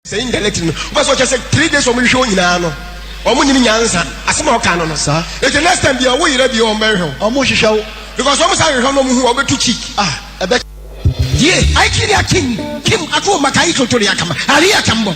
sɛ in dialect no wobɛ sɛ ɔkyɛ sɛ three days ɔmo hwehwɛ wo nyinaa no ɔmo nyini nyansa asɛm a ɔka no no saa ɛti next time bia ɔwo yerɛ bia ɔmo bɛhwehwɛ wo ɔmo hwehwɛ wo because ɔmo saa hwehwɛ no ɔmo hu ɔbɛtu cheek ah ɛbɛ yie aikiri akin kim ato maka yi totori akama ari akambɔ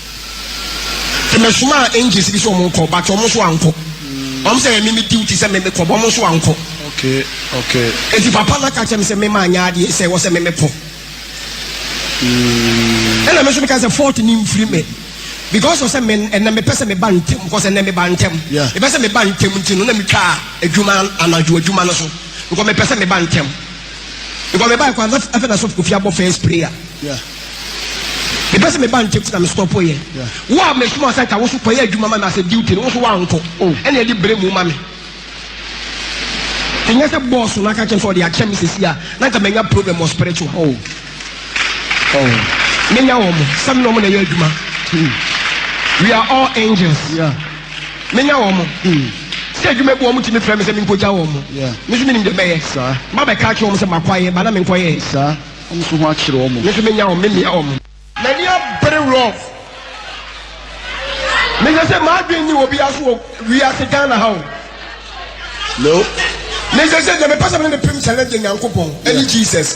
Nti me somaa angels bi sɛ ɔmo nkɔ but ɔmo nso ankɔ. Ɔmo mm. sɛ ɛyɛ mimi duty sɛ mimi kɔ but ɔmo nso ankɔ. Okay okay. Nti papa na ka kyɛ mi sɛ mimi anya adeɛ sɛ ɛwɔ sɛ mimi kɔ. Mm. Ɛna mi nso mi ka sɛ fault ni nfiri mi because ɔsɛ mi ɛnna mi pɛ sɛ mi ba ntɛm because ɛnna mi ba ntɛm. Mi pɛ sɛ mi ba ntɛm nti no na mi twa adwuma anadwo adwuma no so because mi pɛ sɛ mi ba ntɛm. Because me bae kwa na afei na sɔfo kofi abɔ first prayer. Yeah. Me pɛ sɛ me ba ntɛm ti na me stop yɛ. Yeah. Wo a me soma sɛ nka wo so kɔ yɛ adwuma ma me asɛ duty no wo so wa nkɔ. Oh. Ɛna ɛde bere mu ma me. Ɛnyɛ sɛ boss no aka kyɛm sɛ ɔde akyɛ me sisi a na nka manya problem wɔ spiritual. Oh. Oh, me nya wɔn sɛ me na wɔn na ɛyɛ adwuma. Hmm. We are all angels. Yeah. Me nya wɔn. Hmm. Sɛ adwuma bi wɔn ti mi fira mi sɛ mi nkogya wɔn. Yeah. Me nso mi nim de bɛyɛ. Saa. Ma bɛ kaa kye wɔn sɛ ma kɔ ayɛ ba na mi nkɔ yɛ. Saa. Wɔn nso ho akyerɛ wɔn. Me nso me nya wɔn, me mia wɔn. M'ani abere wɔn. Me sɛ sɛ maa dwen ni obi aso wɔ wiase Ghana ha o. No. Me sɛ sɛ deɛ me pɛ sɛ me ne ne pem sɛ ne de Nyankopɔn ɛne Jesus.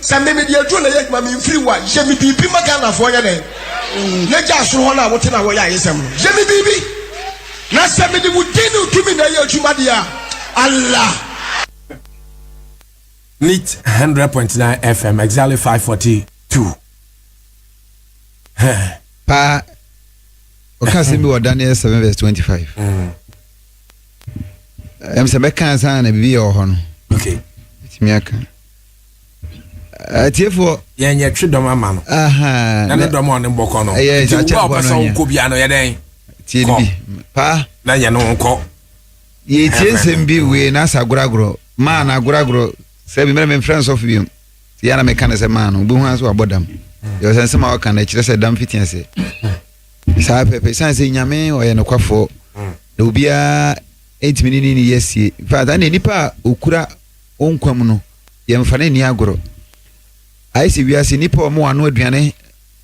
Sɛ me mede aduro na ɛyɛ adwuma me mfiri wo a yɛ me biribi ma Ghanafoɔ nyɛ dɛn na gya soro hɔ no a wote na wɔyɛ ayesɛm no yɛ me biribi na sɛ mede wo din ne wo tumi na ɛyɛ adwuma deɛ a Allah Lit hundred point nine FM exactly five forty two. Paa ɔka asɛm bi wɔ Daniel seven verse twenty five. Mm. Ɛm sɛ bɛka ansa na biribi yɛ wɔ hɔ no. Okay. Ɛtumi aka. atiefoɔ yɛn yɛ twe dɔm ama no na ne dɔm a ɔne bɔkɔ no nti wo a ɔpɛ sɛ wokɔ bia no yɛ dɛn kɔ na yɛ ne nkɔ yɛtie nsɛm bi wei na asa goragorɔ maa na agoragorɔ sɛ bi mmerɛ memfrɛ nsɔfo biom nti yɛ na meka ne sɛ maa no wobɛhu a sɛ wabɔ dam yɛwɔ sɛ nsɛm a wɔka no ɛkyerɛ sɛ dam fiti ase saa pɛpɛ ɛsiane sɛ nyame ɔyɛ nokwafoɔ na obiara ɛntumi ne ne ne yɛ sie faata ne nipa a ɔkura Wo nkwa mu no, yɛmfa no nni agorɔ. Ayɛ sɛ wiase nnipa a wɔanoa aduane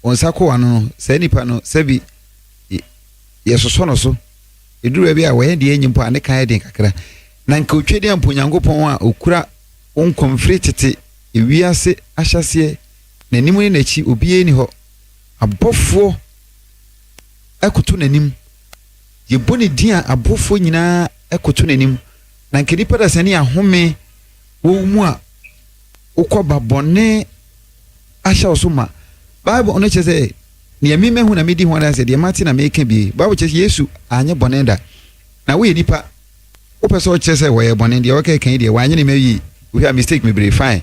wɔn nsa kɔ ano no, saa nipa no, sɛbi yɛsosɔ no so. Ɛduru baabi a, wɔyɛ deɛ ɛnyɛ mpo a, ne ka yɛ den kakra. Na nka ɔtwa di ampo Onyankopɔn a ɔkura wo nkwa mu firi tete wiase ahyɛseɛ, n'anim ne n'akyi, obiara nni hɔ. Abɔfoɔ koto n'anim. Yɛbɔ ne din a abɔfoɔ nyinaa koto n'anim. na nka nipa da sani ahome wɔ wo mu a wokɔ ba bɔne ahyɛ wo so ma bible no kyerɛ sɛ nea mi mahu na medi ho adanse deɛ mate na meka bi bible kyerɛ sɛ yesu anyɛ bɔne da na woyɛ nipa wopɛ sɛ ɔkyerɛ sɛ wɔyɛ bɔne deɛ wɔkɛka yi deɛ wanyɛ ne ma yie wohwɛ a mistake mebree fine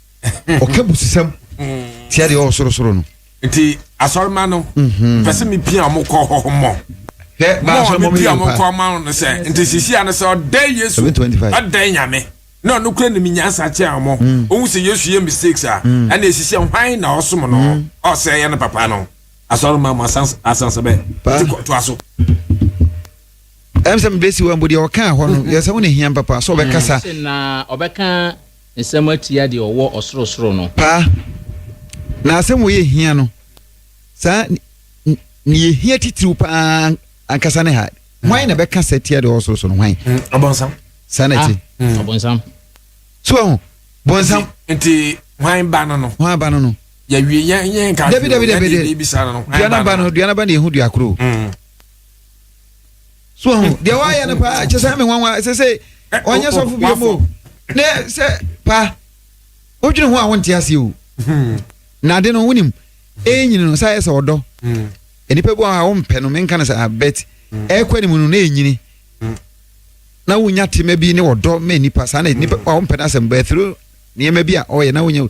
ɔka busisɛm tia deɛ ɔwɔ sorosoro no nti asɔrema no mhm. pɛ sɛ mepia mo kɔ hɔ mmɔ mepia mo kɔ ma no sɛ nti sisia no sɛ ɔdɛ yesu ɔdɛ nyame na ɔno kura nim nyansa kyɛn ɔmo mm. ohun sɛ yesu yɛ mistakes a mm. ɛna esisi hwan na ɔsom no mm. ɔsɛ yɛ no papa no asɔrema mo asansabɛ ti kɔ to aso ɛm sɛ mebɛsi wa mbo deɛ ɔkaa hɔ no yɛ sɛ wo ne hiam papa sɛ ɔbɛkasa nsɛm atia deɛ ɔwɔ ɔsorosoro no. Paa, na asɛm wɔ yɛ hia no saa, ne yɛ hia titiriw paa ankasa ne ha, hwan na bɛka sɛ tia deɛ ɔwɔ sorosoro no, hwan? Mm, ɔbɔnsam. Saa na ɛte. Ah, mm. Ɔbɔnsam. So ɛho, bɔnsam. Nti, hwan ba no no? Hwan ba no no? Yɛwie yɛn yɛn nka. Dabi dabi dabi de. Duana ba no, duana ba na ehu duakoro. Mm. so ɔho deɛ wayɛ no paa kyɛ sɛ me nwanwa sɛ sɛ ɔnyɛ sɔfo bio mu ne sɛ pa wodwene ho a wonte aseɛ o na ade no wonim ɛnyini no sɛ ayɛ sɛ ɔdɔ nnipa bi wɔ hɔ a wompɛ no menka no sɛ abɛt ɛkɔ anim no na ɛnyini na wonya tema bi ne ɔdɔ ma nnipa saa na nnipa a wompɛ no asɛm bɛ through nneɛma bi a ɔyɛ na wonya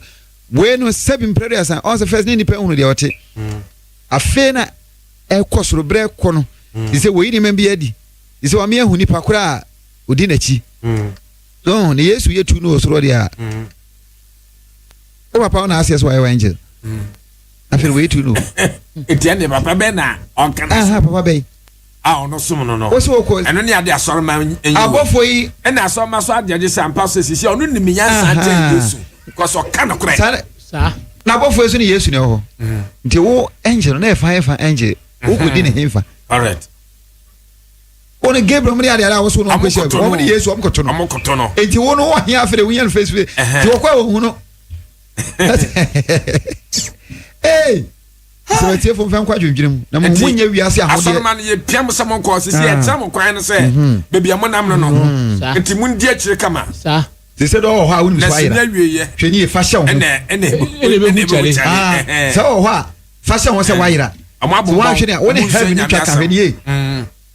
wei no sɛbi mprɛde asan ɔn sɛ first ne nnipa hunu deɛ ɔte afei na ɛkɔ soro berɛ kɔ no mm. te sɛ wɔyi nneɛma bi adi te sɛ wɔame ahu nipa koro a ɔdi n'akyi mm. no na yesu yɛ tu no wɔ soro deɛ a mm. wo papa wo na aseɛ sɛ wayɛ wa angel afei wɔyɛ tu no ɛtia ne papa bɛn na ɔnka na papa bɛn a ɔno som no no wosi wokɔ ɛno ne ade asɔrema nyi abɔfo yi ɛna asɔrema so adeɛ de sɛ ampa so sisi ɔno nim nyansa nkyɛn yesu kɔsɔ ka no korɛ saa. na abɔfoɔ so ne yesu na ɛwɔ hɔ mm. nti wo angel no na ɛfa ɛfa angel mm-hmm. wokɔdi ne hemfa wọn gabriel mu ni adi adi awo so na ɔkɔ hyɛ wɔn ni yesu ɔmu koto no ɔmu koto no eti wɔn no wɔn hin afere wɔn yɛn face face ti wɔkɔ ɛwɔ hu no ee. sɛ atiefo mfa nkɔ adwendwene mu na mo mu nyɛ wiase ahodeɛ asɔroma no yɛpia mo sɛ mo nkɔ sisi ah. yɛkyerɛ mo kwan no sɛ mhm. baabi a monam no no mhm. nti mondi akyire kama te sɛ dɛ ɔwɔ hɔ a wonim so ayera hwɛ ne yɛ fa hyɛ wo ho sɛ ɔwɔ hɔ a fa hyɛ ho sɛ woayera sɛ woanhwɛ ne a wo ne heaven twa ka hwɛ ne yie mm.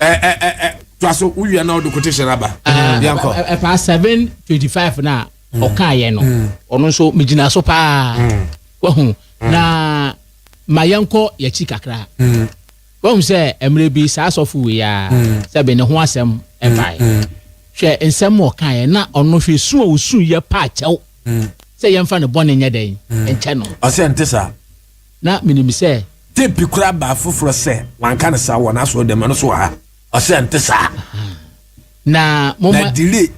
ɛ ɛ ɛ ɛ to aso wowia na ɔde quotation no aba yɛnkɔ ɛfa 725 no a ɔkaeɛ no ɔno nso megyina so paa wahu na ma yɛnkɔ yɛkyi kakra wahu sɛ mmerɛ bi saa sɔfo wei a sɛ bɛ ne ho asɛm ɛbae hwɛ nsɛm ɔkaeɛ na ɔno hwɛ su a ɔsu yɛ paa kyɛw sɛ yɛmfa ne bɔne nyɛ dɛn nkyɛ no ɔsɛ nte saa na minim sɛ. Tape kura baa foforɔ sɛ, Wanka no saa wɔ n'asɔrdan mu, ɛno nso wɔ ha. Ɔse ɛnte saa. Na momma. Na delay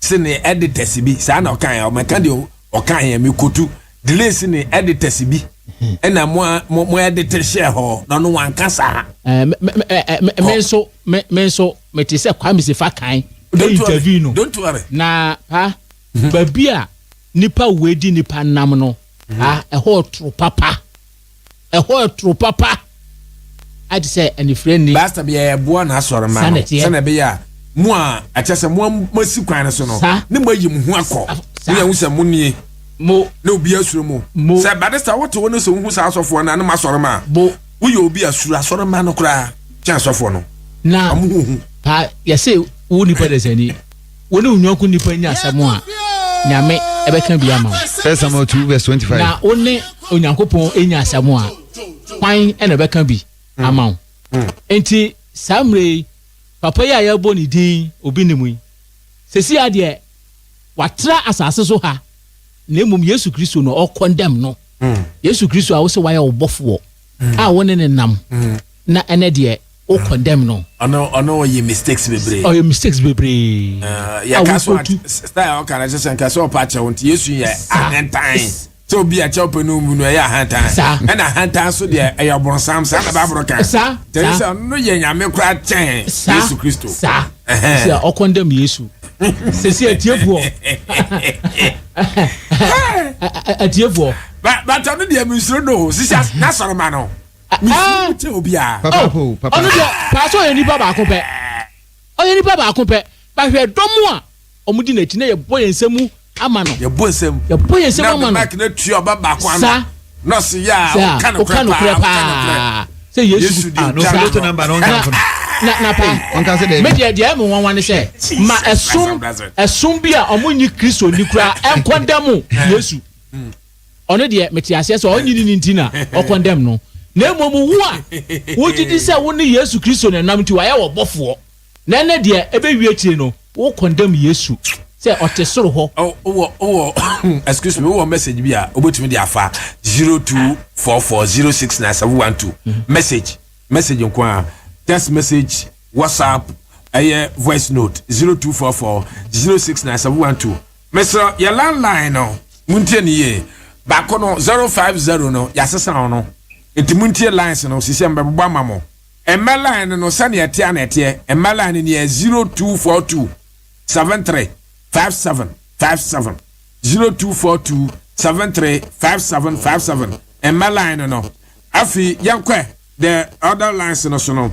se ne editors bi, saa na ɔkaeɛ, ɔmɛka deɛ ɔkaeɛ, mekotu, delay se ne editors bi ɛna mo a mo mo edit hyɛɛ hɔ, na ɔno wanka saa. Me nso me me nso mete sɛ Kwame Sefa kan. Don't worry, don't worry. Na pa, baabi a nipa wei di nipa nam no. Na ɛhɔ yɛ toro papa. Ɛhɔ yɛ toro papa. Ayɛ te sɛ anifire nni. Basta bia yɛboa n'asɔremma no sɛnea ɛbɛyɛ a mo a ɛkyɛ sɛ mo moasi kwan no so no ne mo ayi mo ho akɔ. Mo yɛ ho sɛ mo nie mo na obi asuro mo. Sɛ Badista wote wo no sɛ wohu saa asɔfoɔ no a ne mo asɔremma a woyɛ obi asuro asɔremma no koraa kyɛn asɔfoɔ no. Na ɔmo ho hu. Paa yɛsɛ wo nipa dasani. Wo ne wo nyɔnko nipa nya asɛm a, Nyame bɛka bi ama wo. First Samuel 2 verse 25. Na wo ne Onyankopɔn nya asɛm a, hwan na ɛbɛka bi hmm. ama wo? Hmm. Enti saa mmerɛ yi, papa yi a yɛbɔ ne din obi ne mu yi, sɛsi adeɛ watra asase so ha, na mmom Yesu Kristo na ɔkɔndɛm no. Hmm. Yesu Kristo a wo sɛ wayɛ wo bɔfoɔ a wo ne ne nam na ɛnɛ deɛ wo condemn no. ɔno ɔno ɔyɛ mistakes bebree. ɔyɛ mistakes bebree. Eh, yɛ ka so a style ɔka na kyerɛ sɛ nka sɛ ɔpa akyɛw nti yesu yɛ ahantan sɛ obi a kyɛw pɛ no mu no ɛyɛ ahantan ɛna ahantan so deɛ ɛyɛ ɔbɔnsam saa na baabolo kan tɛn sɛ ɔno yɛ nyame kora kyɛn yesu kristo. saa sɛ ɔkɔndɛm yesu sisi atiefoɔ atiefoɔ. bàtà no deɛ mi nsoro do sisi n'asɔrɔ ma no. ɔno deɛ paa sɛ ɔyɛ nipa baako pɛ ɔyɛ nipa baako pɛ bahwɛ dɔm a wɔn di n'akyi na yɛbɔ yɛn nsam ama no yɛbɔ nsam yɛbɔ yɛn nsam ama no sa sa ɔka nokorɛ paa sɛ yesu ah, no sa na na pa me deɛ deɛ ɛmu nwanwa ne sɛ ma ɛsom ɛsom bi a wɔn nyi kristo ni kura ɛnkɔndɛmu yesu. Ɔno deɛ mete aseɛ sɛ ɔnnye ne ni nti na ɔ condemn no, na mmom wo a wogye di sɛ wo ne Yesu Kristo na ɛnam nti wayɛ wo ɔbɔfoɔ, na ɛnnɛ deɛ ɛbɛwie akyire no wo condemn Yesu sɛ ɔte soro hɔ. Wowɔ wowɔ excuse me wowɔ message bi a wobɛtumi de afa zero two four four zero six nine seven one two message message nko a text message whatsapp ɛyɛ voice note zero two four four zero six nine seven one two. Mesrɛ yɛ landline no montie ne yie baako no zero five zero no yɛasesa ho no nti montie lines no sisi mbɛbobɔ ama mo mmɛ line no sɛnea ɛteɛ ana ɛteɛ mmɛ line no neɛ zero two four two seven three five seven five seven zero two four two seven three five seven five seven mmɛ line no afei yɛnkɔ the other lines no so no.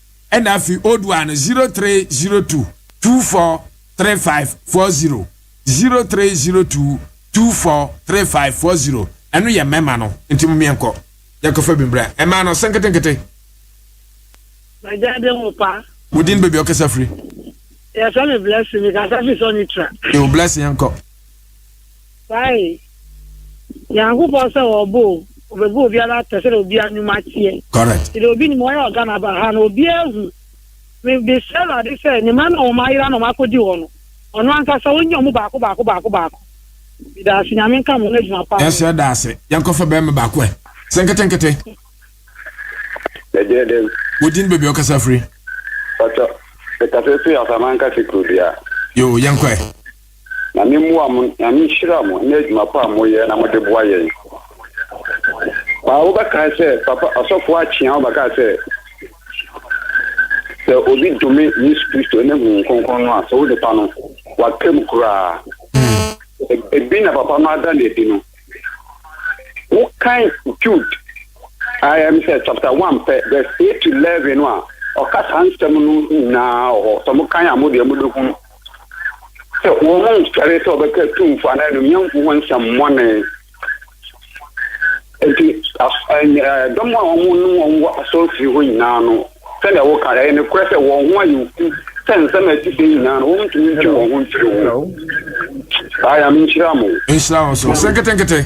ɛna afei odu a no zero three zero two two four three five four zero zero three zero two two four three five four zero ɛno yɛ mɛma no nti mo miɛ nkɔ yɛ kɔfɛ bi mbra ɛma no senketenkete. Bajade mo pa. Mo din baabi ɔkasa firi. Yɛ sɛ mi blessing mi kasa fi sɔ ni tra. Yo blessing yɛn kɔ. Ae, Nyankopɔn sɛ ɔɔbɔ o, ɔbɛbɔ obiara atɛ sɛdeɛ obiara nwuma teɛ. Correct. Nti deɛ obi nim, ɔyɛ ɔga na ba ha no, obiara ahu. Me, mesrɛ Awurade sɛ, ne mma no a wɔn ayera na wɔn akɔdi hɔ no, Ɔno ankasa ɔnnya wɔn mu baako baako baako baako. Meda ase, Nyame nka mo, na adwuma pa ara. Yɛsrɛ da ase. Yɛnkɔfa barima baako ɛ. Sɛ nketenkete. Ɛdeɛ dɛn? Wo din ne baabi a wokasa firi? Ɔkyɛ, mekasa firi Asaman Kase kuro dua. Yoo, yɛnkɔ ɛ. Nyame mmoa mo, Nyame nhyira mo ne adwuma pa a moyɛ na mode boa yɛn. Paa wobɛkae sɛ papa ɔsɔfoɔ akyea wobɛkae sɛ sɛ obi dome Yesu Kristo ne Honhom Kronkron no a sɛ wode pa no waka mu koraa. Ebi na papa no ada no adi no. Wokan Jude a ɛm sɛ chapter 1 pɛ verse 8 to 11 no a ɔka saa nsɛm no nyinaa wɔ hɔ. Sɛ mokan a modeɛ mobɛhunu. sɛ wɔnsɔre sɛ wɔbɛka tumfo anaa anuonyamfo ho nsɛmmɔne. Nti dɔm a wɔn ne wɔn wɔ asɔrefie hɔ nyinaa no, sɛnea wɔka ɛyɛ nokorɛ sɛ wɔn ho ayɛ fu sɛ nsɛm a ɛte sɛ nyinaa no wɔntumi ntwe wɔn ho mfiri ho. Saa yɛ menhyira mo. Nhyira wo nso. Sɛ nketenkete.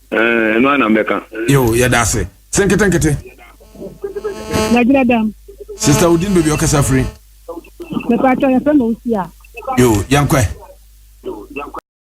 Eh, ɛno ana mbɛka. Yo, yɛda ase. Sɛ nketenkete. Nagyina dɛm. Sista Odin baabi ɔkasa firi. Mepatwa yɛfrɛ ma osi a. Yo, yɛnkɔɛ.